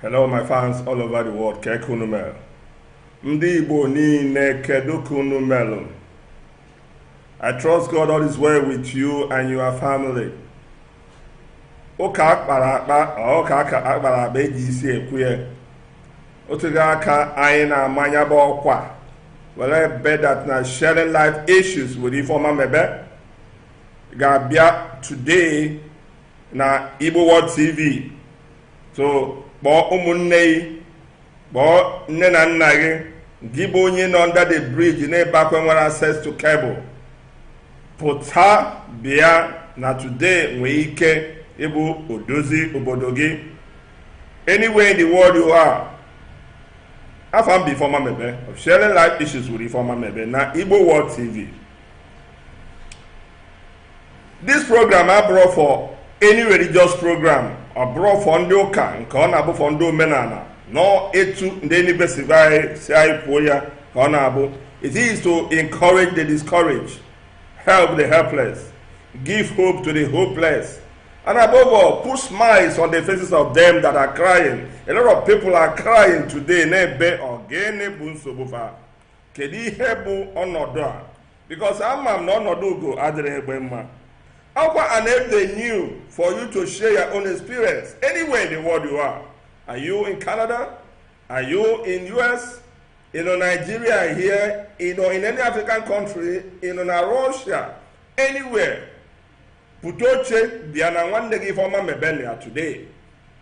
Hello my fans all over the world kee ka unu melu ndị Igbo niile kedu ka unu mere I trust God all is well with you and your family ụka akpara akpa ụka aka akpara akpa eji isi ekwe ya otughị aka anyị na-ama nya bụ ọkwa were bedat na sharing life issues with Ifeoma Mebe ga-abịa today na Igbo World TV so kpọọ ụmụnne gị kpọọ nne na nna gị gị bụ onye nọ under the bridge na-ebe akwa nwere access to cable pụta bịa na today nwee ike ịbụ odozi obodo gị anywhere in the world you are afa m bụ Ifeoma Mebe of sharing life issues with Ifeoma Mebe na Igbo World TV this program abụrọ for any religious program ọ bụrọ for ndị ụka nke ọ na-abụ for ndị omenala no etu ndị NBC gwa anyị si anyị kwuo ya ka ọ na-abụ it is to encourage the discouraged help the helpless give hope to the hopeless and above all put smiles on the faces of them that are crying a lot of people are crying today na-ebe ọ gịnị bụ nsogbu fa kedu ihe bụ ọnọdụ a because ama m na ọnọdụ ugo adịrọ egbe mma akwa an avenue for you to share your own experience anywhere in the world you are are you in canada are you in us ị nọ nigeria here ị nọ in any african country ị nọ na russia anywhere pụta oche bịa na nwanne gị ifeọma mebele ya today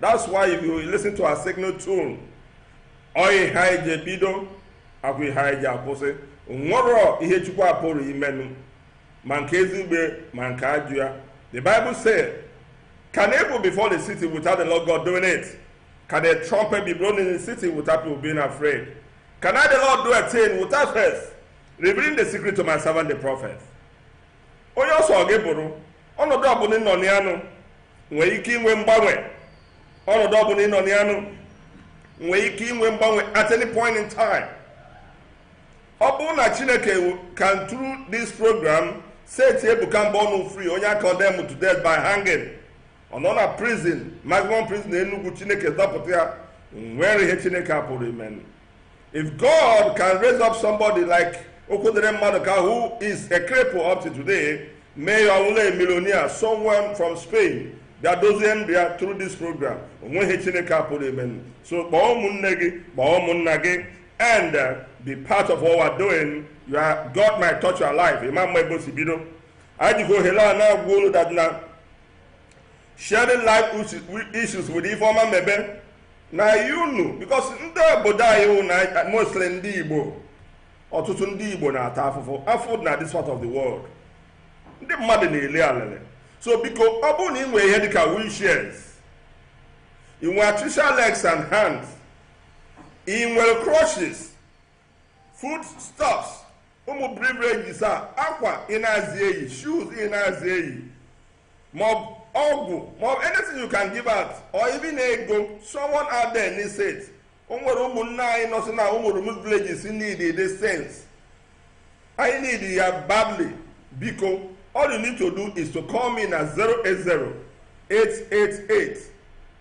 that's why if you listen to our signal tune ọ ihe anyị ji ebido ọ kwa ihe anyị ji akwụsị nwerọ ihe chukwu apụrọ imenụ ma nke ezigbe ma nke ajụ ya the bible say can evil befall the city without the lord god doing it can a trumpet be blown in the city without people being afraid can i the lord do a thing without first revealing the secret to my servant the prophet onye ọ sọ gị bụrụ ọnọdụ ọbụla ịnọ na ya nụ nwere ike inwe mgbanwe ọnọdụ ọbụla ịnọ na ya nụ nwere ike inwe mgbanwe at any point in time ọ bụrụ na chineke can through this program set ebuka mbọnụ free onye a condemn to death by hanging ọ nọ na prison maximum prison na enugwu chineke dọpụta ya nwere ihe chineke apụrọ imenụ If God can raise up somebody like Okwudere Maduka, who is a cripple up to today, may only a millionaire, someone from Spain, that doesn't react through this program. Onweghị Chineke apụrụ ime. So kpọọ ụmụnne gị, kpọọ ụmụnna gị, and uh, be part of what we're doing. You are, God might touch your life. Imam Maibo Sibido. I just go hello and now go that now. sharing life issues with Ifeoma Mebe na you know because ndị obodo anyị wụ na mostly ndị Igbo ọtụtụ ndị Igbo na-ata afụfụ afụ na this part of the world ndị mmadụ na-ele alele so biko ọ bụrụ na ị nwere ihe dịka wheelchairs ị nwere artificial legs and hands ị nwere crutches food stuffs ụmụ beverages a akwa ị na-azị eyi shoes ị na-azị eyi maọbụ ọgwụ maọbụ anything you can give out or even ego someone out there needs it o nwere ụmụnne anyị nọsị na ụmụ remote villages need these things anyị need ya badly biko all you need to do is to call me na 080 888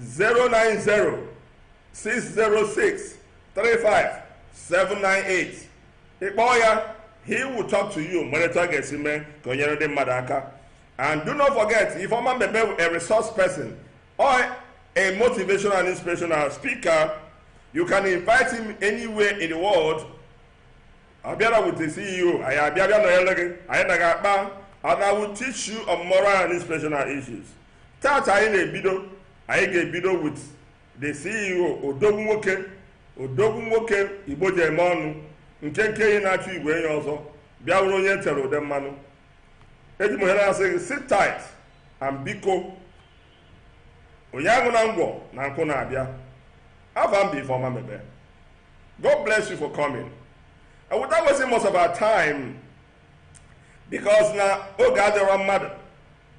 090 606 35798 ịkpọọ ya he will talk to you nwere etu ọ ga-esi mee ka o nyere ndị mmadụ aka and do not forget Ifeoma Mebe a resource person or a motivational and inspirational speaker you can invite him anywhere in the world ọ bịara with the CEO anyị abịa bịa nọnyere gị anyị na gị akpa and I will teach you on moral and inspirational issues Tata anyị na-ebido anyị ga-ebido with the CEO odogwu nwoke Igbo ji eme ọnụ nkenke enyi na-achụ igwe enyi ọsọ bịa wụrụ onye e tere ude mmanụ eji m ohere asị gị sit tight and biko onye anwụna ngwọ na nkwụ na-abịa ava m bụ Ifeoma Mebe God bless you for coming and without wasting much of our time because na oge adịrọ mmadụ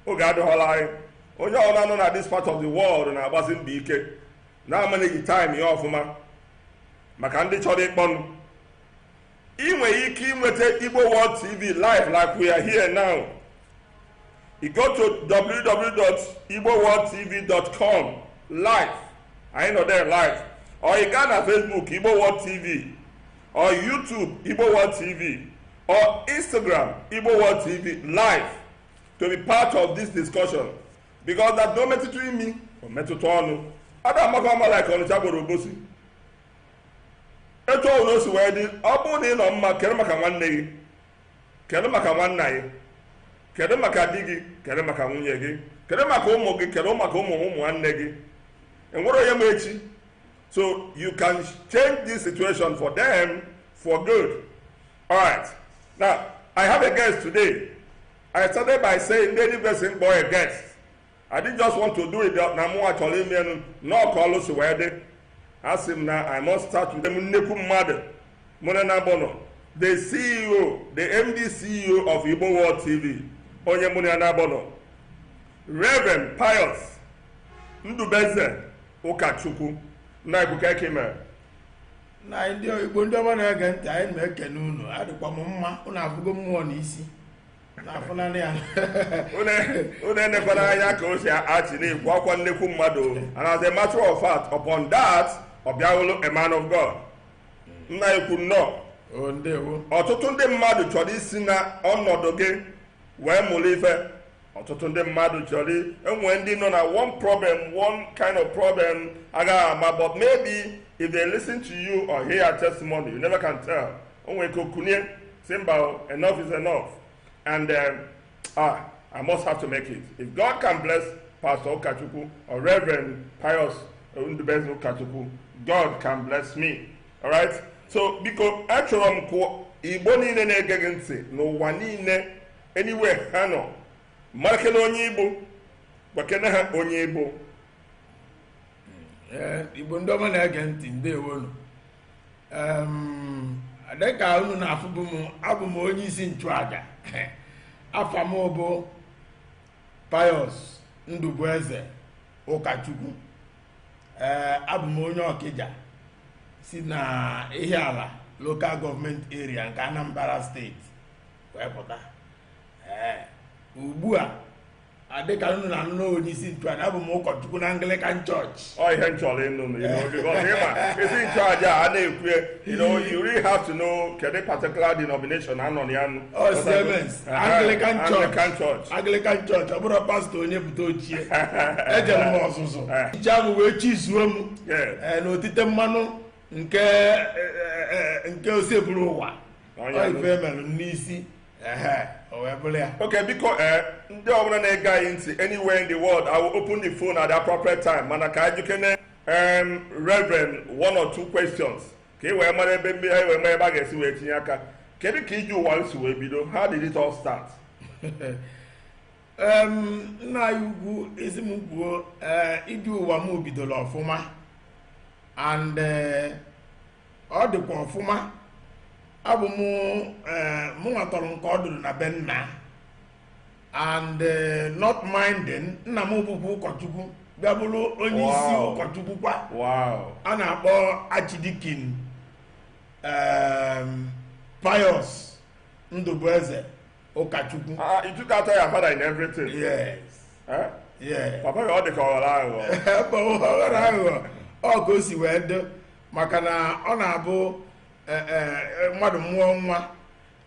oge adịghọla anyị onye ọbụla nọ na this part of the world na-agbasi mbọ ike na-amanage time ya ọfụma maka ndị chọrọ ịkpọnụ ị nwere ike inweta Igbo World TV live like we are here now you go to www.igboworldtv.com live anyị nọ there live or ị gaa na Facebook Igbo World TV or YouTube Igbo World TV or Instagram Igbo World TV live to be part of this discussion because that na o metụta imi o metụta ọnụ ada amaka ama like Ọnịcha gwara Obosi etu ọbụla o si wee dị ọ bụrụ na ị nọ mma care maka nwanne gị care maka nwanna gị care maka di gị care maka nwunye gị care maka ụmụ gị care maka ụmụ ụmụ nwanne gị enwerọ onye ma echi so you can change this situation for them for good all right now i have a guest today i started by saying lady person boy a guest i didn't just want to do it na mụ achọrọ ime enu na ọ ka ọlụ si wee dị asị m na i must start with nnekwu mmadụ mụrụ na bọnọ the ceo the md ceo of igbo world tv onye mụrụ ya na bọnọ reverend pius ndụbụeze ụkachukwu nna anyị ukwu kee ka i mere nna anyị ndewo igbo ndị ọma na-ege ntị anyị na-ekene unu adịkwa m mma unu afụgo mmụọ na isi na-afụnanị ya unu enekwana anya ka o si achị na-ekwu akwa nnekwu mmadụ and as a matter of fact upon that ọ bịa bụrụ a man of God nna anyị ukwu nnọọ o ndewo ọtụtụ ndị mmadụ chọrọ isi na ọnọdụ gị wee mụrụ ife ọtụtụ ndị mmadụ chọrọ e nwee ndị nọ na one problem one kind of problem agaghị ama but maybe if they listen to you or hear your testimony you never can tell o nwere ike o kunie sị mba enough is enough and um, ah i must have to make it if god can bless pastor ụkachukwu or reverend pius ndụbụeze ụkachukwu god can bless me alright so biko achọrọ m ka igbo niile na-ege gị ntị n'ụwa niile anywhere ha nọ marakene onye ị bụ gwakene ha onye ị bụ Ee, igbo ndị ọma na-ege ntị ndewonu Em, dịka unu na-afụbụ m abụ m onye isi nchụaja afa m bụ Pius Ndụbụeze Ụkachukwu ee abụ m onye Ọkịja si na Ihiala local government area nke Anambra state wee pụta ee ugbu a adịka unu na-anụ onye isi nchụaja abụ m ụkọchukwu na Anglican Church ọ ihe m chọrọ ịnụ m ịma isi nchụaja a na-ekwu you know you really have to know kedu particular denomination anọ na ya nụ oh, Anglican Church Anglican Church ọ bụrọ pastor onye bute oche ejere m ọzụzụ bishop wee chizuo m eh. eh, na otite mmanụ nke eh, eh, eh, nke osebụrụwa ife mere n'isi okay biko ee ndị ọbụla na-ege anyị ntị anywhere in the world I will open the phone at the appropriate time mana ka anyị jụkene reverend one or two questions ka anyị wee mara ebe mmiri anyị wee mara ebe a ga-esi wee tinye aka kedu ka ije ụwa si wee bido how did it all start nna anyị ukwu eziokwu ije ụwa m bidoro ọfụma and eh, ọ dịkwa ọfụma abụ m eh, mụnwa tọrọ nke ọdụdụ na be nna and eh, not minding nna m bụkwa ụkọchukwu bịa bụrụ onye isi Wow. ụkọchukwu kwa wow a na-akpọ archdeacon em, pius ndụbụeze ụkọchukwu Ah, you took after your father in everything. yes Eh? yes Papa gị ọ dị ka ọ ghọrọ aghụghọ. ebe ọ ghọrọ aghụghọ ọ ka o si wee dị maka na ọ na-abụ eh, eh, mmadụ mụọ nwa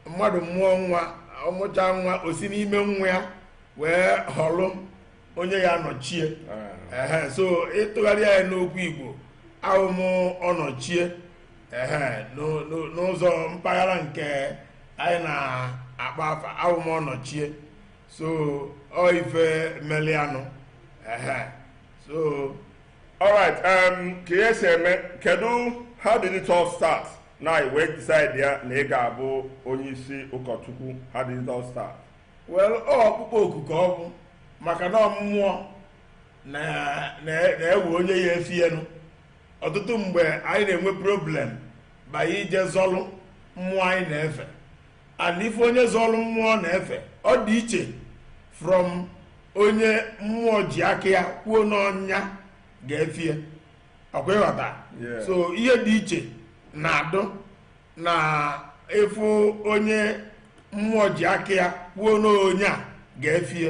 mmadụ mụọ nwa ọ mụcha nwa o si n'ime nwa ya wee họlụ onye ya-anọchie ehe so ị tụgharịa ya n'okwu igbo awụ m ọnọchie ehe n'o- n'o- n'ụzọ mpaghara nke anyị na-akpọ afa awụ m ọnọchie so ọ ife melianụ ehe so alright um, ka ihe si eme kedu how did it all start na i wee decide ya na ị ga-abụ onye isi ụkọchukwu how did it all start well ọ ọkpụkpọ oku ka ọ bụ maka na ọ mmụọ na- na- na-ewe onye ya-efie nụ ọtụtụ mgbe anyị na-enwe problem bụ anyị ije zọlụ mmụọ anyị na-efe and ife onye zọlụ mmụọ na-efe ọ dị iche from onye mmụọ ji aka ya kwuo na onye a ga-efie ọkwa ị ghọta Yeah. so ihe dị iche na-adụ na ị fụ onye mmụọ ji aka ya kwuo na onye a ga-efie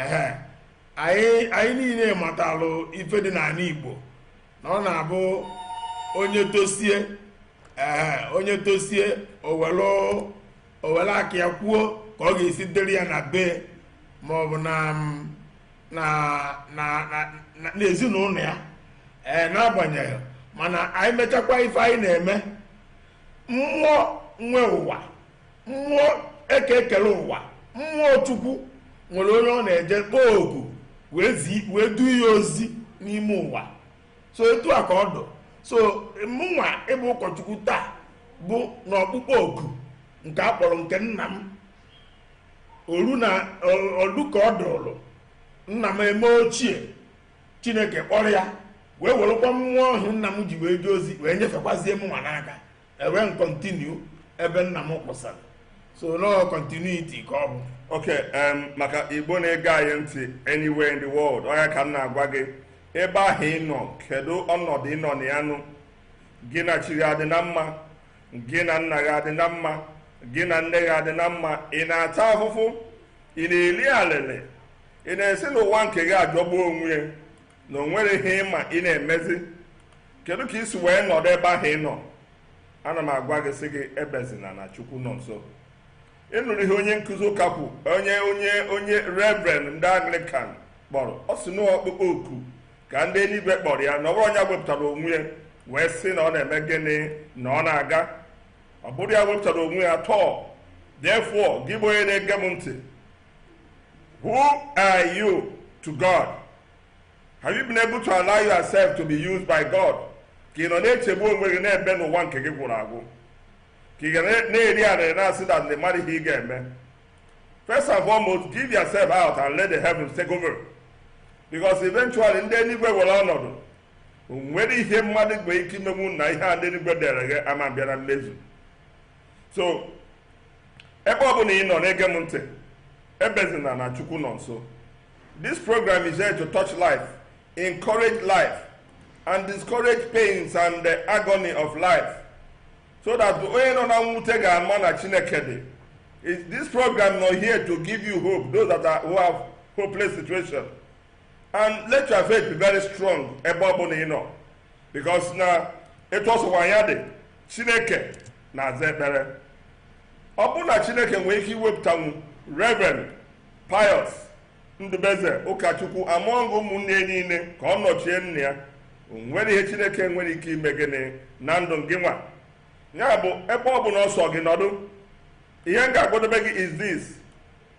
ehe anyị anyị niile matalụ ife dị n'anị igbo na ọ na-abụ onye tosie ehe onye tosie o welu o welu aka ya kwuo ka ọ ga-esi dịrị ya na be maọbụ na mm, na na na na n'ezinụnọ ya ee n'agbanyeghị mana anyị mechakwa ife anyị na-eme mmụọ nwe ụwa mmụọ eke kele ụwa mmụọ chukwu nwere onye ọ na-eje kpọọ oku wee zi wee du ya ozi n'ime ụwa so etu a ka ọ dụ so mụnwa ịbụ ụkọchukwu taa bụ na ọkpụkpọ oku nke a kpọrọ nke nna m oru na olu ka ọ dụrụ nna m eme ochie chineke kpọrọ ya wee werekwa mmụọ ahụ nna m ji wee jee ozi wee nyefekwazie mụnwa n'aka ewee m continue ebe nna m kwụsara so na ọ continuity ka ọ bụ okay um, maka igbo na-ege anyị ntị anywhere in the world ọ ya ka m na-agwa gị ebe ahụ ị nọ kedu ọnọdụ ị nọ na ya nụ gị na chi gị adị na mma gị na nna gị adị na mma gị na nne gị adị na mma ị na-ata ahụhụ ị na-eli alịlị ị na-asị na ụwa nke gị ajọgbu onwe ya na o nwere ihe ị ma ị na-emezi kedu ka i si wee nọdụ ebe ahụ ị nọ ana m agwa gị sị gị ebezina na chukwu nọ nso ị nụrụ ihe onye nkụzi ụka kwu onye onye onye reverend ndị Anglican kpọrọ ọ sị na ọkpụkpọ oku ka ndị eluigwe kpọrọ ya na ọ bụrọ onye wepụtara onwe ya wee sị na ọ na-eme gịnị na ọ na-aga ọ bụrọ ya wepụtara onwe ya too therefore gị bụ onye na-ege m ntị who are you to God have you been able to allow yourself to be used by God ka ị nọ na-echegbu onwe gị na-ebe na ụwa nke gị gwụrụ agwụ ka ị ga na-eri arịrị na-asị na ị marọ ihe ị ga-eme First and foremost, give yourself out and let the heavens take over. Because eventually ndị eluigwe were ọnọdụ o nwere ihe mmadụ nwere ike imenwu na ihe a ndị eluigwe dere gị ama bịa na mmezu so ebe ọ bụla ị nọ na-ege m ntị ebezina na chukwu nọ nso this program is here to touch life encourage life and discourage pains and the agony of life so that onye nọ na mwute ga-ama na chineke dị this program nọ here to give you hope those who have hopeless situation and let your faith be very strong ebe ọ bụla ị nọ because na etu ọ sọkwa ya dị chineke na-aza ekpere ọ bụrụ na chineke nwere ike iwepụtanwu reverend pius ndụbueze ụkọchukwu among ụmụnne niile ka ọ nọchie nna ya o nwere ihe chineke nwere ike ime gịnị na ndụ gị nwa ya bụ ebe ọ bụla ọ sọ gị nọdụ ihe m ga-agwadobe gị is this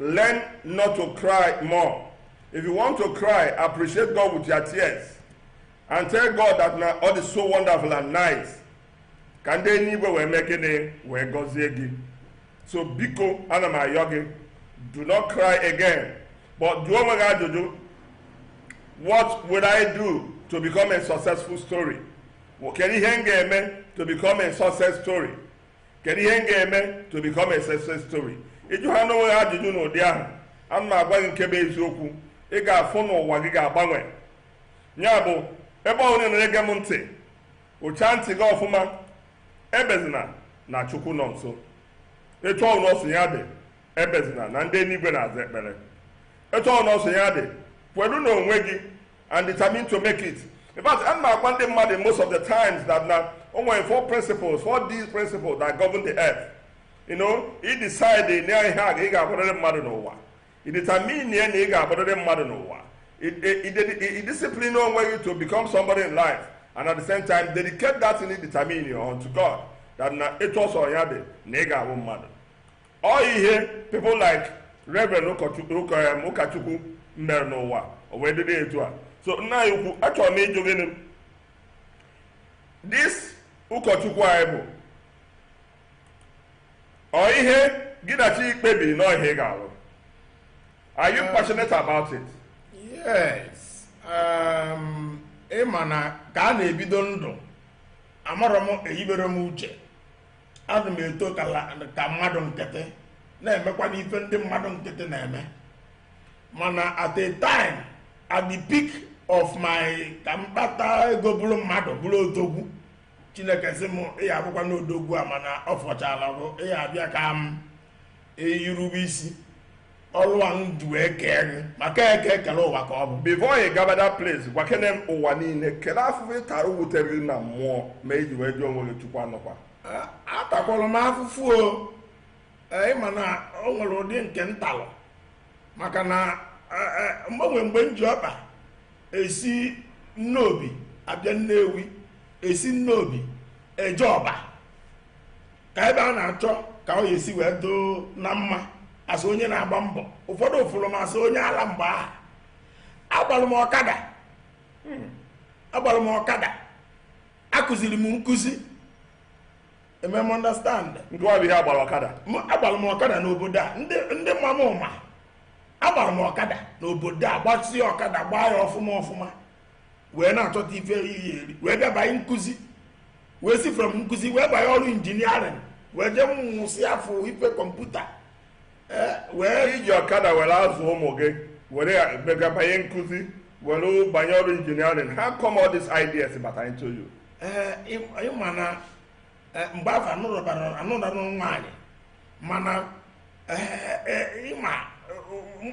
learn not to cry more if you want to cry appreciate god with your tears and tell god that na ọ dị so wonderful and nice ka ndị eluigwe wee mee gịnị wee gọzie gị so biko ana m ayọ gị do not cry again but jụọ onwe gị ajụjụ what would i do to become a successful story kedu ihe m ga-eme to become a success story kedu ihe m ga-eme to become a success story ị jụhaa onwe gị ajụjụ n'ụdị ahụ ana m agwa gị nke bụ eziokwu ị ga-afụ na ụwa gị ga-agbanwe ya bụ ebe ahụ ị nọ na-ege m ntị Kpụchaa ntị gị ọfụma, ebezina na Chukwu nọ nso. Etu ọbụla ọ sọ ya dị, ebezina na ndị eluigwe na-aza ekpere. Etu ọbụla ọ sọ ya dị, kwelu n'onwe gị and determine to make it. In fact, ana m agwa ndị mmadụ most of the times that na o nwere four principles, four D principles that govern the earth. You know, i decide na ihe a ga- ị ga-abụrịrị mmadụ n'ụwa. ị determinie na ị ga-abụrịrị mmadụ n'ụwa ị discipline onwe gị to become somebody in life and at the same time dedicate that ị determine unto God that na etu ọ sọ ya dị na ị ga-abụ mmadụ ọ ihe people like Reverend ụkọchukwu mere n'ụwa o wee dịrị etu a so nna anyị ukwu achọrọ m ịjụ gị this ụkọchukwu a ị bụ Ọ ihe gị na chi kpebiri na ọ ihe ị ga-alụ. Are you passionate about it? Yes. Um, ị ma na ka a na-ebido ndụ amarọ m eyibere m uche ana m eto ka la- ka mmadụ nkịtị na-emekwanụ ife ndị mmadụ nkịtị na-eme mana at a time at the peak of my ka m kpata ego bụrụ mmadụ bụrụ odogwu chineke sị m ị ya-abụkwanụ odogwu a mana ọ fọchala bụ ị ya-abịa ka m eyirube isi ọrụ a m ji wee kee gị maka eke kele ụwa ka ọ bụ before ị gaba that place gwakene m ụwa niile kele afụfụ ị tara wutere gị na mmụọ mee i ji wee jụọ onwe gị chukwu ọ nọkwa A- atakwara m afụfụ o Ee, ị ma na o nwere ụdị nke m talụ maka na e, e, mgbe o nwe mgbe m ji ọkpa esi nnobi abịa nnewi esi nnobi eje ọba ka ebe a na-achọ ka ọ ya-esi wee dụ na mma asị onye na-agba mbọ ụfọdụ fụrụ m asị onye ala mgbe ahụ agbara m ọkada hmm. agbara m ọkada akụziri m nkụzi let me understand nke ọ bụ ihe agbara ọkada M- agbara m ọkada n'obodo a ndị ndị ma mụ ma agbara m ọkada n'obodo a gbasie ọkada gbaa ya ọfụma ọfụma wee na-achọta ife ị ya-eri wee bịa banye nkụzi wee si from nkụzi wee banye ọrụ injiniarịn wee jee mụsịa afọ ife kọmputa eh, wee i ji ọkada were azụ ụmụ gị were banye nkụzi were banye ọrụ injiniarin how come all these ideas bata into you eh, ị ma na eh, mgbe afụ anụrọ m nwaanyị mana ị ma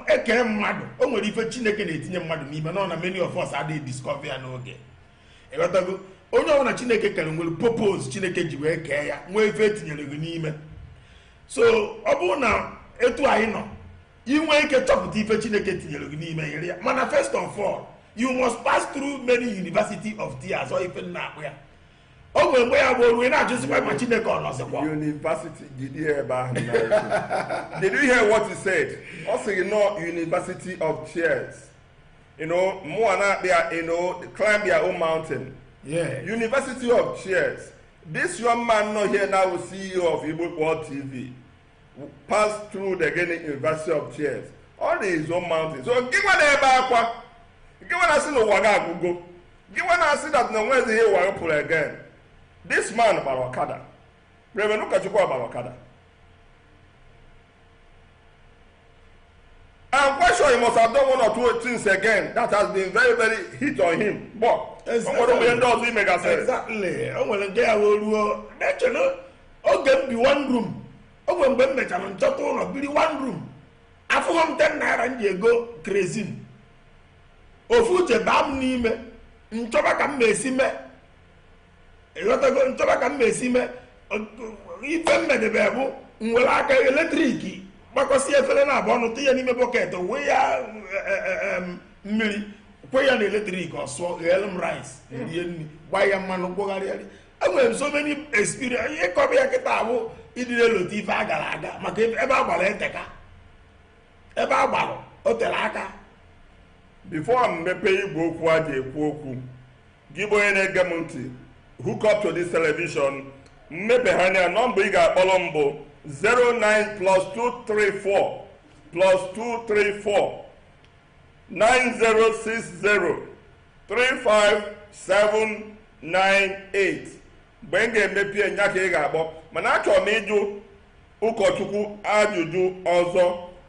e kee mmadụ o nwere ife chineke na-etinye mmadụ n'ime na ọ na many of us adịghị discover ya n'oge ịghọtago onye ọbụla chineke kere nwere purpose chineke ji wee kee ya nwee ife e tinyere gị n'ime so ọ bụrụ na etu anyị nọ i nwee ike chọpụta ife chineke tinyere gị n'ime iri ya mana first of all you must pass through many university of tears ọ ife m na-akpọ ya o nwere mgbe ya bụ o ruo ị na-ajụzikwa ma chineke ọ nọzikwa university dịzi ebe ahụ did you hear what he said ọ sị gị na ọ university of tears you know mụwa na-akpọ ya you know climb your own mountain yeah. university of tears This young man nọ here now CEO of Igbo World TV passed through the gịnị University of Tears o nwere his own mountain. So gịnwa na-ebe akwa gịnwa na-asị na ụwa gị agwụgo gịnwa na-asị that na o nwezi ihe ụwa pụrụ again. This man gbara ọkada Reverend Ụkọchukwu gbara ọkada I'm quite sure he must have done one or two things again that has been very very hit on him but ụfọdụ mgbe ndị ọzọ ime gasịrị. exactly o nwere nke ya wee ruo na-eche na oge m bi one room o nwere mgbe m mechara m chọta ụlọ biri one room afụghị m ten naira m ji ego kerosene ofu uche baa m n'ime m chọba ka m na-esi mee ịghọtago m chọba ka m na-esi mee ife m medebe bụ m were aka eletrik gbakọsị efere naabụ ọnụ tinye n'ime bọket wee ya e, e, e, mmiri kwe ya na eletrik ọ sụọ gheelụ m rice rie nri gbaa ya mmanụ kpụgharịa rie enwere m so many experience ịkọba ya kịta abụ ịdị na-elote ife a gara aga maka ebe a gbara eteka ebe a gbara o tere aka before m mepee igwe okwu a ji ekwu okwu Gị bụ onye na-ege m ntị, hook up to this television. M mepehaa nya nọmba ị ga-akpọrọ m bụ 09 plus 234 plus 234 9060 35798 mgbe m ga-emepe nya ka ị ga-akpọ mana achọrọ m ịjụ ụkọchukwu ajụjụ ọzọ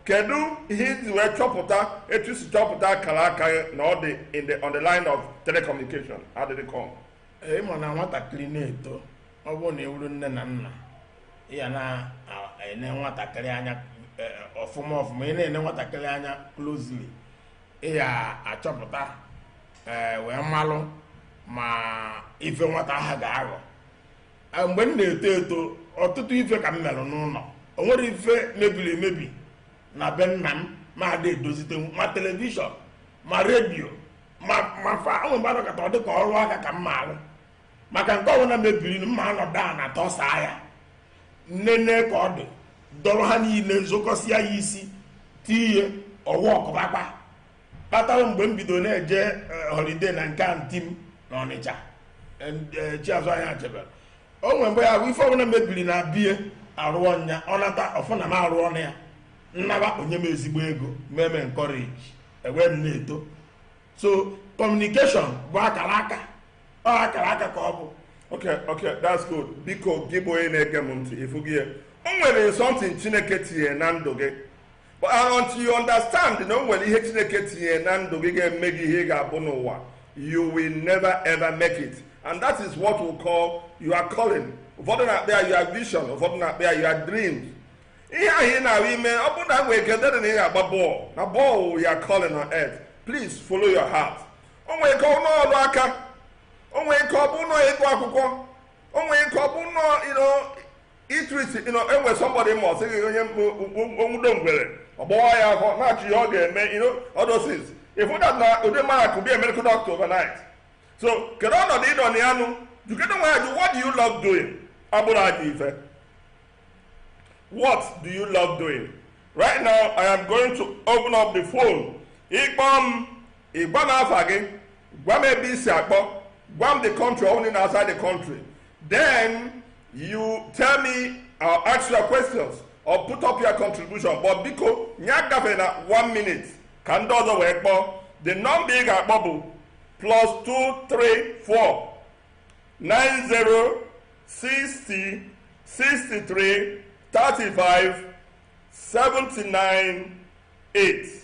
kedu ihe i ji wee chọpụta etu i si chọpụta akara aka gị na ọ dị in the on the line of telecommunication how did it come Ee, ịma na nwatakịrị na-eto ọ bụrụ na ị wụrụ nne na nna ị ya na-ene nwatakịrị anya eh, ọfụma ọfụma ị na-ene nwatakịrị anya closely ị ya-achọpụta eh, wee malụ ma ife nwata ahụ ga-aghọ A, mgbe m na-eto eto ọtụtụ ife ka m merụ n'ụlọ o nwere ife mebiri emebi na be nna m ma ada edozite ma telivishọn ma redio ma ma fan o nwee mgbe a nọkata ọ dị ka ọrụ aka ka m ma arụ maka nke ọbụla mebiri nụ m ma anọdụ ana tọsaa ya m nene ka ọ dị dọrọ ha niile m zokọsịa ya isi tie ihe ọwa ọkụbakpa kpatara mgbe m bido na-eje eh, holiday na nke aunty m na Ọnịcha eh, Chiazọ Anyachebelu o nwere mgbe ya bụ ife ọbụla mebiri na be ya arụọ nya ọ nata ọ fụ na m arụọ nya m naba o nye m ezigbo ego mee m encourage e wee m na-eto so communication bụ akara aka ọ akara aka ka ọ bụ ok ok that's good biko gị bụ onye na-ege m ntị ị fụgo ya o nwere something Chineke tinye na ndụ gị But until you understand na o nwere ihe Chineke tinye na ndụ gị ga-eme gị ihe ị ga-abụ n'ụwa you will never ever make it and that is what we call your calling ụfọdụ na-akpọ ya your vision ụfọdụ na-akpọ ya your dreams ihe ahụ ị na-ahụ ime ọ bụrụ na nwere ike dịrị na ị ga-agba bọọlụ na bọọlụ your calling on earth please follow your heart o nwere ike ọ n'ọrụ aka o nwere ike ọ bụ n'ịgụ akwụkwọ o nwere ike ọ bụ na Idris ịnọ enwe somebody ma ọ sịghị onye o nwudo ngwere ọ bọwa ya afọ na-achọ ihe ọ ga-eme all those things ị fụ that na ụdị mmadụ could be a medical doctor overnight so kedu ọnọdụ ị nọ na ya nụ jụkene onwe gị ajụjụ what do you love doing abụrụ aja ife what do you love doing right now i am going to open up the phone ị kpọọ m ị gwa m afa gị gwa m ebe ị si akpọ gwa m the country ọ bụrụ na ị nọ outside the country then you tell me or ask your questions or put up your contribution but biko ya agafena one minute ka ndị ọzọ wee kpọọ the number ị ga-akpọ bụ plus 234 90 60 63 35 79 8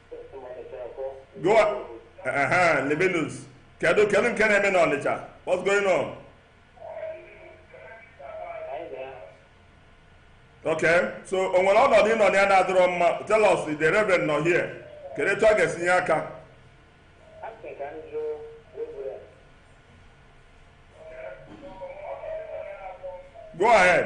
Go on. Uh-huh. Livinus. Kedu kedu nke na-eme n'Ọnịcha? What's going on? Okay. So o nwere ọnọdụ ị nọ na ya na-adịrọ mma. Tell us the reverend nọ here. Kedu etu ọ ga-esi nye aka? Go ahead.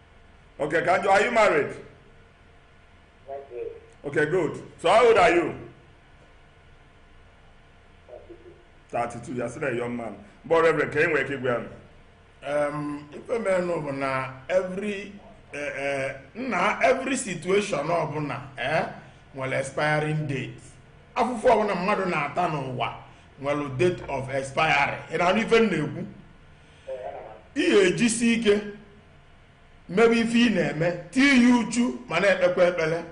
Okay, ka m jụọ, are you married? Okay, good. So how old are you? 32. You're still a young man. But Reverend, can you wake up well? Um, ife menụ bụ na every uh, uh, na every situation ọbụna eh, nwele expiring date afụfụ ọbụna mmadụ na-ata n'ụwa nwele date of expiry ị na-anụ ife m na-ekwu i jisie ike mebe ife ị na-eme tinye ya uchu ma na-ekpekwa ekpele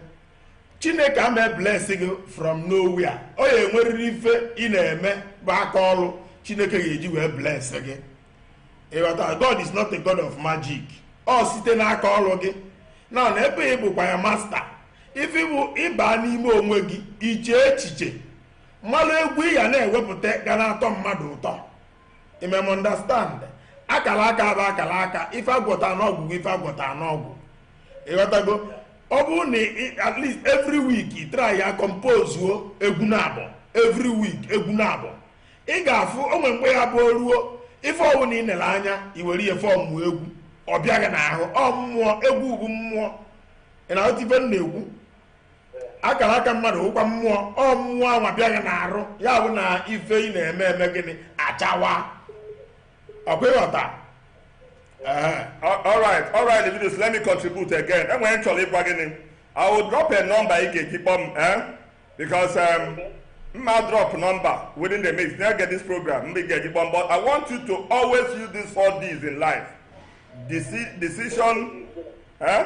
chineke ama eblesi gị from nowhere ọ ya-enwerịrị ife ị na-eme bụ aka ọrụ chineke ga-eji wee bless gị ị ghọta god is not a god of magic ọ site n'aka ọrụ gị na na ebe ị bụkwa ya master ife bụ ịba n'ime onwe gị iche echiche malụ egwu ị ya na-ewepụta ga na-atọ mmadụ ụtọ imem understand akala aka bụ akala aka ife agwọta n'ọgwụ ife agwọta n'ọgwụ ịghọtago ọ bụrụ na at least every week ị try ya compozuo egwu naabọ every week egwu naabọ ị ga-afụ o nwee mgbe ya bụ ruo ife ọwụna ị nere anya i were ya form egwu ọ bịa gị n'ahụ ọ mmụọ egwu bụ mmụọ ị na-aghọta ife m na-ekwu akala aka mmadụ wụkwa mmụọ ọ mmụọ anwa bịa gị n'arụ ya bụ na ife ị na-eme eme gịnị achawa ọkwa ịghọta Ehe. all right all right Leviticus let me contribute again enwere m chọrọ ịgwa gị i will drop a number ị ga-eji kpọọ m eh? because um, mma drop number within the mix na get this program mgbe ị ga-eji kpọọ m but i want you to always use these four d's in life Deci- decision eh?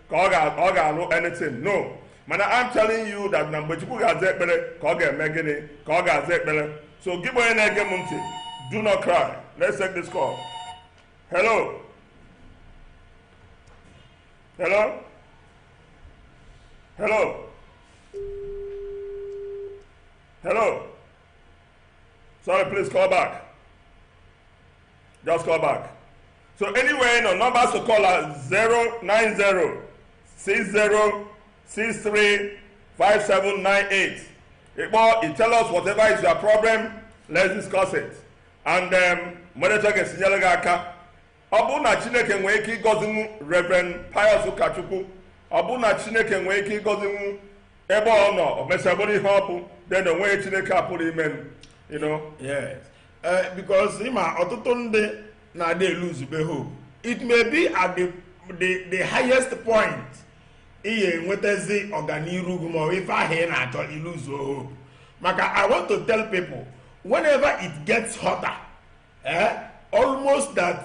ka ọ ga- ọ ga-alụ anything no mana I'm telling you that na mgbe Chukwu ga-aza ekpere ka ọ ga-eme gịnị ka ọ ga-aza ekpere so gị bụ onye na-ege m ntị do not cry let's take this call hello hello hello hello sorry please call back just call back so anywhere ị nọ numbers to call are 090 60 63 5798 ị kpọọ you tell us whatever is your problem let's discuss it and um, mmadụ ga-esi nyere gị aka ọ bụrụ na chineke nwee ike ịgọzinwu reverend pius ụkachukwu ọ bụrụ na chineke nwee ike ịgọzinwu ebe ọ nọ o mesịa bụrụ ihe ọ bụ then onweghị ihe chineke apụrọ ime m you know Yes. Eh, because ị ma ọtụtụ ndị na-adị eluzube hope it may be at the, the, the highest point ị ga-enwetazi ọganiru gị ma ife ahụ ị na-achọ i luzuo hope maka i want to tell people whenever it gets hotter eh, almost that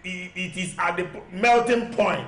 it is at the melting point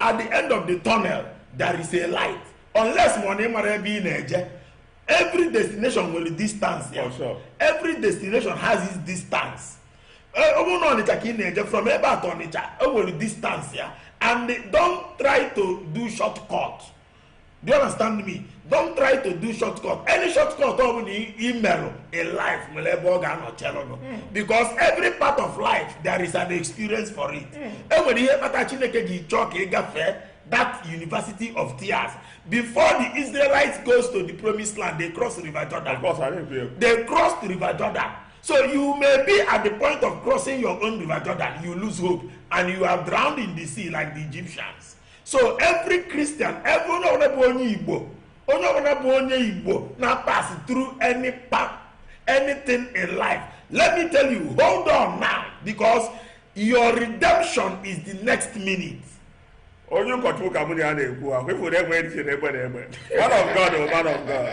at the end of the tunnel there is a light unless ma ọ na ị marọ ebe ị na-eje every destination nwere distance ya For sure. every destination has its distance Eh, ọ bụrụ na ọnịcha ka ị na-eje from ebe a to ọnịcha o nwere distance ya and don't try to do short cut do you understand me don't try to do shortcut any shortcut ọ bụla i merụ in life nwere ebe ọ ga-anọ chelụnụ hmm. because every part of life there is an experience for it hmm. e nwere ihe kpata chineke ji chọọ ka ị gafee that university of tears before the israelites goes to the promised land they cross river jordan of course, I didn't they cross river jordan so you may be at the point of crossing your own river jordan you lose hope and you are drowned in the sea like the egyptians so every christian every onye ọbụla bụ onye igbo onye ọbụla bụ onye igbo na pass through any path anything in life let me tell you hold on now because your redemption is the next minute onye ụkọchukwu ka mụ na ya na-ekwu ahụ ifuru egbe dị na egbe na egbe man of god o oh, man of god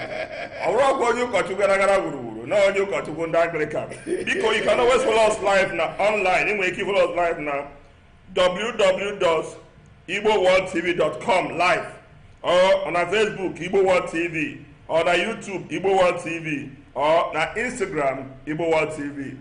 ọ bụrụkwa onye ụkọchukwu gara gara gburugburu na onye ụkọchukwu ndị anglican biko you can always follow us live na online ị nwere ike follow us live na www.igboworldtv.com live or na Facebook Igbo World TV or na YouTube Igbo World TV or na Instagram Igbo World TV.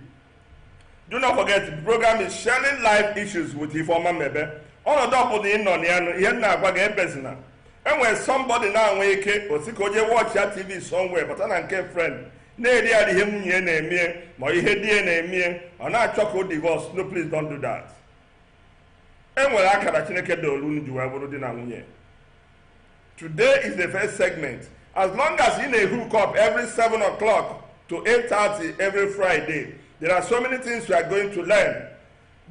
Do not forget, the program is sharing life issues with Ifeoma Mebe. ọnọdụ ọbụla ị nọ na ya nụ, ihe m na-agwa gị ebezina enwere somebody na-enwe ike ọ sị ka o je watchịa tv somewhere bata na nke friend na-eri arịrị ihe nwunye ya na-emie ma ihe di ya na-emie ọ na-achọ ka o divorce no please don't do that e nwere akara chineke dolu unu ji wee bụrụ di na nwunye today is the first segment as long as ị na-ehook up every 7 o'clock to 8:30 every friday there are so many things you are going to learn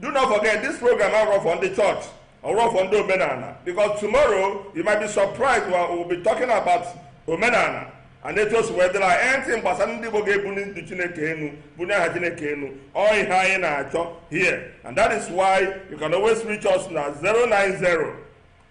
do not forget this program abụrọ for ndị church ọ bụrọ for ndị omenana because tomorrow you might be surprised we will be talking about omenana and etu o si wee dịla anything gbasara ndị Igbo ga-ebuni ndị Chineke enu bunie aha Chineke enu ọ ihe anyị na-achọ here and that is why you can always reach us na 090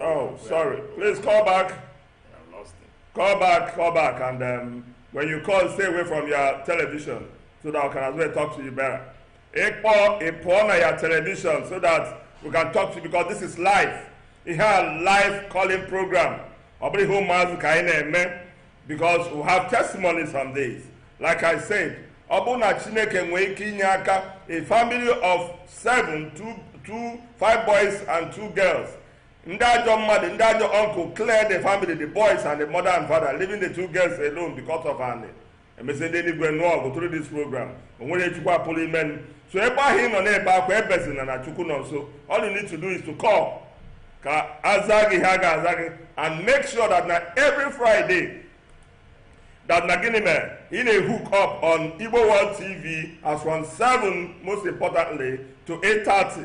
Oh, sorry. Please call back. I lost him. Call back, call back, and um, when you call, stay away from your television so that I can as well talk to you better. Ekpo, Ekpo na your television so that we can talk to you because this is live. Ihe a live calling program. Ọ bụrụ ihe ụmụazụ ka anyị na-eme. because we have testimonies on this like i said ọ bụrụ na chineke nwee ike inye aka a family of seven two two five boys and two girls ndị ajọ mmadụ ndị ajọ uncle clear the family the boys and the mother and father leaving the two girls alone because of anị emesịa ndị eluigwe nụọ ọgụ through this program o nwere chukwu apụrụ ime so ebe ahụ ị nọ na-ebe akwa ebezina na chukwu nọ nso all you need to do is to call ka a za gị ha ga-aza gị and make sure that na every friday that na gịnị mere ị na-ehook up on igbo world tv as from 7 most importantly to 8:30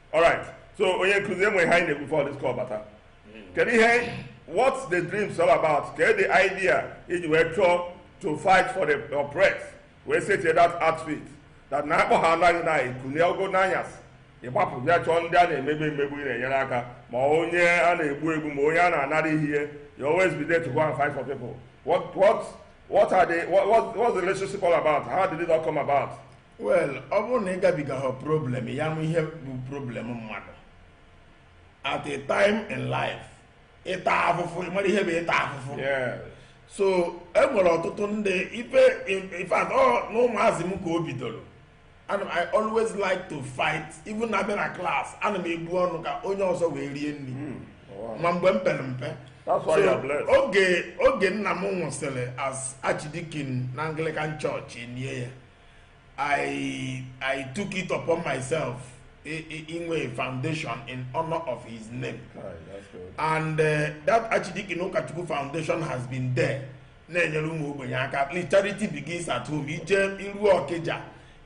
alright so onye nkụzi e nwere ihe anyị na-ekwu before this call bata kedu ihe what's the dreams all about kedu the idea i ji wee chọọ to fight for the oppressed wee setie that outfit that na akpọ ha anaghị na ikunie ogo n'anyasị ị gbapụ bịa chọọ ndị a na-emegbu emegbu ị na-enyere aka ma onye a na-egbu egbu ma onye a na-anara ihe you always be there to go and fight for people what what what are the what, what, what's the relationship all about how did it all come about well ọ bụrụ na ị gabigahọ problem ya ma ihe bụ problem mmadụ at a time in life ị taa afụfụ ị mara ihe bụ ịta afụfụ so e nwere ọtụtụ ndị ife in fact ọ na ụmụazị m ka o bidoro ana m i always like to fight even na bịa na class ana m ebu ọnụ ka onye ọzọ wee rie nri hmm, ma mgbe m pere mpe oge oge nna m nwụsịrị as archdeacon na anglican church e lie ya I, I took it upon myself inwe foundation in honor of his name. and uh, that Archdeacon Okachukwu foundation has been there na-enyere ụmụ ogbenye aka at least charity begins at home i jeruo Ọkịja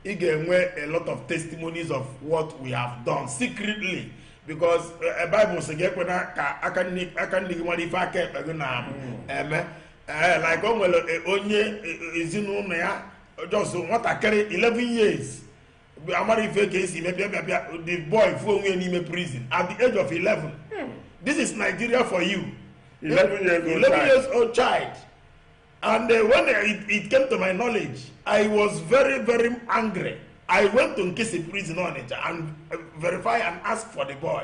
ị ga-enwe a lot of testimonies of what we have done secretly because uh, Bible sị gị ekwena ka aka nni gị mara ife aka ekpe gị na-eme ee eh, like o nwere eh, onye eh, ezinụlọ ya just nwatakịrị 11 years amara ife ka esi eme bịa bịa bịa the boy fụ onwe n'ime prison at the age of 11 hmm. this is Nigeria for you 11 years old 11 years old child and uh, when it, it came to my knowledge I was very very angry I went to Nkisi prison Onitsha and uh, verify and ask for the boy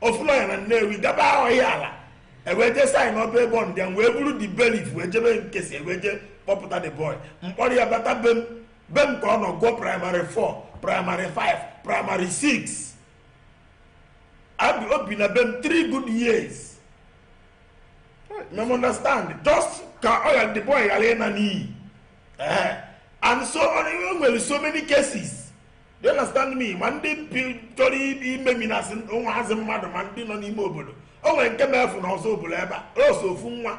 ofu lawyer na Nnewi gaba Ihiala e wee jee sign up a bond there wee buru the bailiff wee jebe Nkisi e wee jee kpọpụta the boy m kpọrọ ya bata be m be m ka ọ nọ gụọ primary 4 primary 5 primary 6 o bi o bi na be m 3 good years you understand just ka ọ ghara the boy ghara ịna n'iyi and so on e nwere so many cases you understand me ma ndị chọrọ imeminasị ụmụazị mmadụ ma ndị nọ n'ime obodo o nwere nke mefụ na Ọzụbụlụ ebe a ọ sọ ofu nwa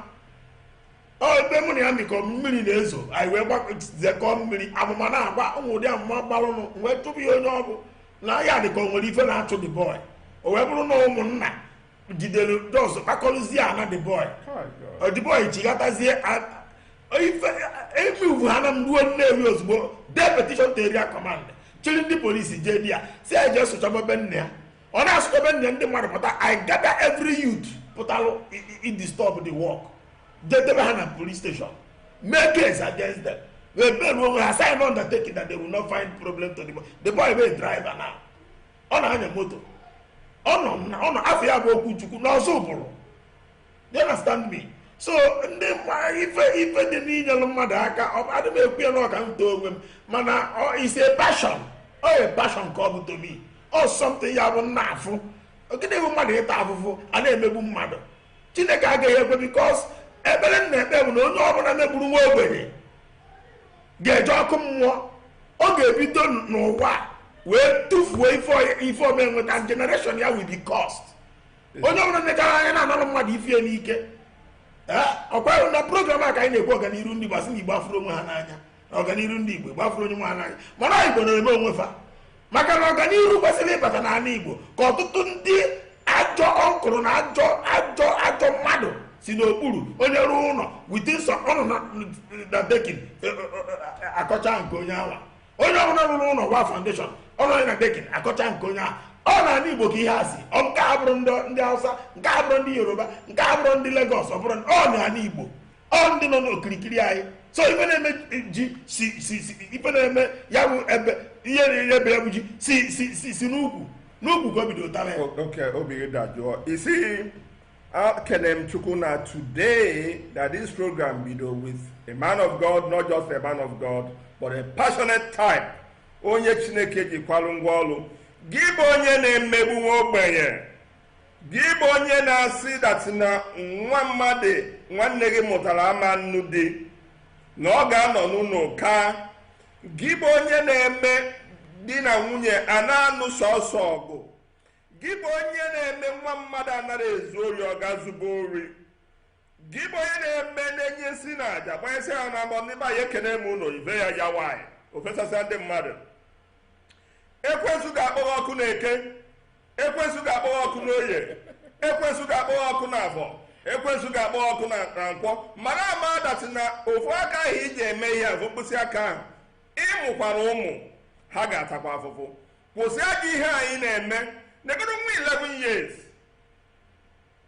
ebe mụ na ya mikọ mmiri na-ezo anyị wee gbakọzekọ mmiri amụma na-agba o nwe ụdị amụma gbalụnụ wee chụpụ ya onye ọ bụ na ya dịka o nwere ife na-achụ the boy o wee bụrụ na ụmụnna jidere just kpakọrụzie ana the boy the boy chighatazie ebe ugwu ha na m gbaa Nnewi ozugbo dee petition to area command chịrị ndị police jee there sị ya jee sụchaba be nna ya ọ na-asụcha be nna ya ndị mmadụ pụta I gather every youth pụtalụ idisturb the work jee debe ha na police station mee case against them wee beruo oge ha sign undertaking that they will not find problem to the boy the boy bụ driver now ọ na-anya moto ọ nọ na ọ nọ afa ya bụ Okwuchukwu n'Ọzụbụlụ you understand me so ndị ife ife dị n'inyelụ mmadụ aka adị m ekwu ya na ọ ka m too onwe m mana it's a passion ọ a passion ka ọ bụ to me ọ something ya bụ m na-afụ ọ gịnị bụ mmadụ ịta afụfụ a na-emegbu mmadụ chineke agaghị ekwe because ekpere m na-ekpe bụ na onye ọbụla megburu nwa ogbenye ga-eje ọkụ mmụọ ọ ga-ebido n'ụwa wee tufuo ife ọma e nweta generation ya will be cursed onye ọbụla nechara anya na-analụ mmadụ ife ya n'ike ọkwa na program a ka anyị na-ekwu ọganiru ndị Igbo a sị na Igbo afụrọ onwe ha n'anya ọganiru ndị Igbo Igbo afụrọ onwe ha n'anya mana Igbo na-eme onwe fa maka na ọganiru kwesịrị ịbata n'ala igbo ka ọtụtụ ndị ajọ uncle na ajọ ajọ ajọ mmadụ si n'okpuru onye rụọ ụlọ within ọ nọ na decking e, e, e, akọcha nke onye awa onye ọbụla rụrụ ụlọ waa foundation ọ nọ na decking akọcha nke onye ahụ ọ n'ala igbo ka ihe a si ọ nke abụrọ ndị hausa nke abụrọ ndị yoruba nke abụrọ ndị lagos ọ bụrụ ọ n'ala igbo ọ ndị nọ n'okirikiri anyị so ife na-eme ji si si si ife na-eme ya bụ ebe ihe na-ere ebe ya bụ ji si si si si n'ukwu n'ukwu ka o bidotara ya O- Okay, Obi Dajụọ. You see, ekene m Chukwu na today that this program bido with a man of God, not just a man of God, but a passionate type. Onye Chineke ji kwalụ ngwa ọlụ. Gị bụ onye na-emegbu nwa ogbenye. gị bụ onye na-asị that na nwa mmadụ nwanne gị mụtara ama nụ di na ọ ga-anọ n'ụlọ kaa gị bụ onye na-eme di na nwunye a na-anụ sọsọ ọgụ gị bụ onye na-eme nwa mmadụ anarọ ezu ori ọ gaa zuba ori gị bụ onye na-eme na-enye nsi na aja gbanyesị ha na mbọ ndị be anyị ekene m unu ibe ya ya nwaanyị o fesasịa ndị mmadụ ekwensu ga-akpọ gị ọkụ na eke ekwensu ga-akpọ gị ọkụ n'oye ekwensu ga-akpọ gị ọkụ na afọ ekwensu ga-akpọ gị ọkụ na na nkwọ mara ama that na ofu aka ahụ i ji eme ihe afụ mkpịsị aka ahụ ị mụkwara ụmụ ha ga-atakwa afụfụ kwụsị ajọ ihe anyị na-eme negodo nwa 11 years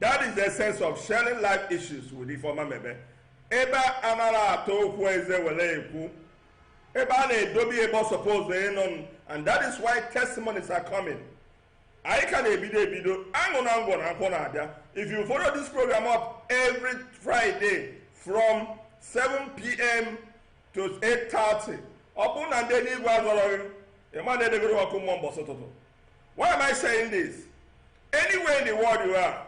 That is the essence of sharing life issues with Ifeoma Mebe. Ebe a anarọ ata okwu eze were ekwu ebe a na-edobe ebe ọ suppose ịnọ and that is why testimonies are coming. anyị ka na-ebido ebido anụ na ngwọ na nkwụ na-abịa if you follow this program up every friday from 7pm to 8:30 ọ bụrụ na ndị eluigwe azọrọ gị ị ma na edegoro ọkụ mmụọ mbọsị ụtụtụ Why am I saying this? Anywhere in the world you are,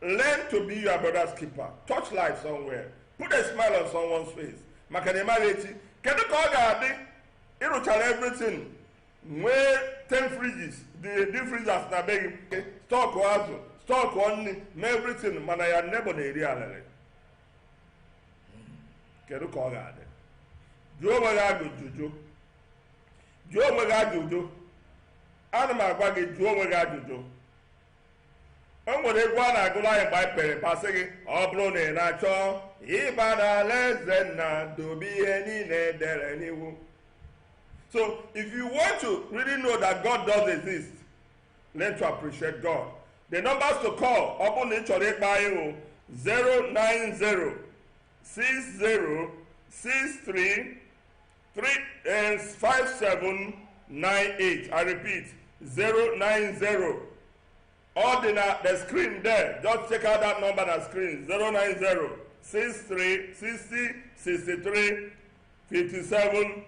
learn to be your brother's keeper. Touch life somewhere. Put a smile on someone's face. Maka na ị maghị echi, kedu ka ọ ga-adị ị rụchara everything nwee 10 fridges, the deep freezers na be gị, stock azụ, stock nri, mee everything mana your neighbour na-eri alịlị. Kedu ka ọ ga-adị? Jụọ onwe gị ajụjụ. jụọ onwe gị ajụjụ ana m agwa gị jụọ onwe gị ajụjụ o nwere egwu a na-agụrụ anyị mgbe anyị pere mpe a sị gị ọ bụrụ na ị na-achọ ịba n'ala eze nna dobe ihe niile e dere n'iwu so if you want to really know that god does exist learn to appreciate god the numbers to call ọ bụrụ na ị chọrọ ịkpọ anyị bụ 090 60 63 35798 I repeat 090 ọ dị na the screen there just check out that number na screen 090 63 60 63 57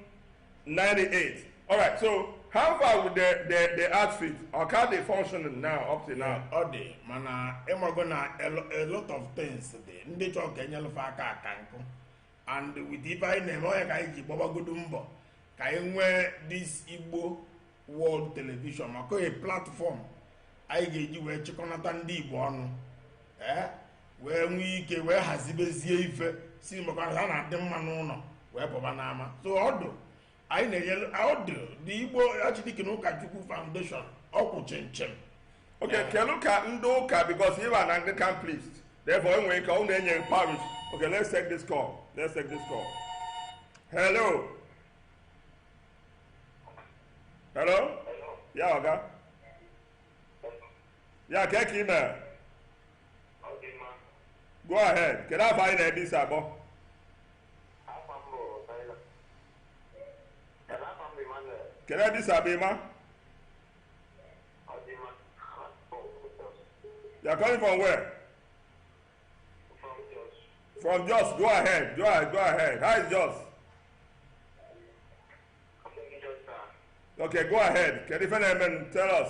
98 all right so how far with the the the outfit ọ ka dị functioning now up till now ọ dị mana ịmago na a lo- a lot of things dị ndị chọrọ ka e nyelụ fa aka aka nkụ and with ife anyị na-eme ọ nya ka anyị ji gbabagodo mbọ ka anyị nwee this Igbo World Television maka ọ a platform anyị ga-eji wee chịkọnata ndị Igbo ọnụ ee eh, wee nwee ike wee hazibezie ife si maka a na-adị mma n'ụnọ wee pụba n'ama so ọdụ anyị na-enyere ọdụ the Igbo Archdeacon Ụkachukwu Foundation ọ kwụ chịm chịm okay kelu ka ndị ụka because ị bụ an Anglican priest therefore e nwe ike ọ na-enye parish okay let's take this call let's take this call hello hello yeah ọga yeah kee ka ị mere go ahead kedu afọ anyị na-ebe isi akpọ kedu ebe isi akpọ ịma you are calling from where from jos go ahead go ahead go ahead how is jos okay go ahead kedu ife na-eme tell us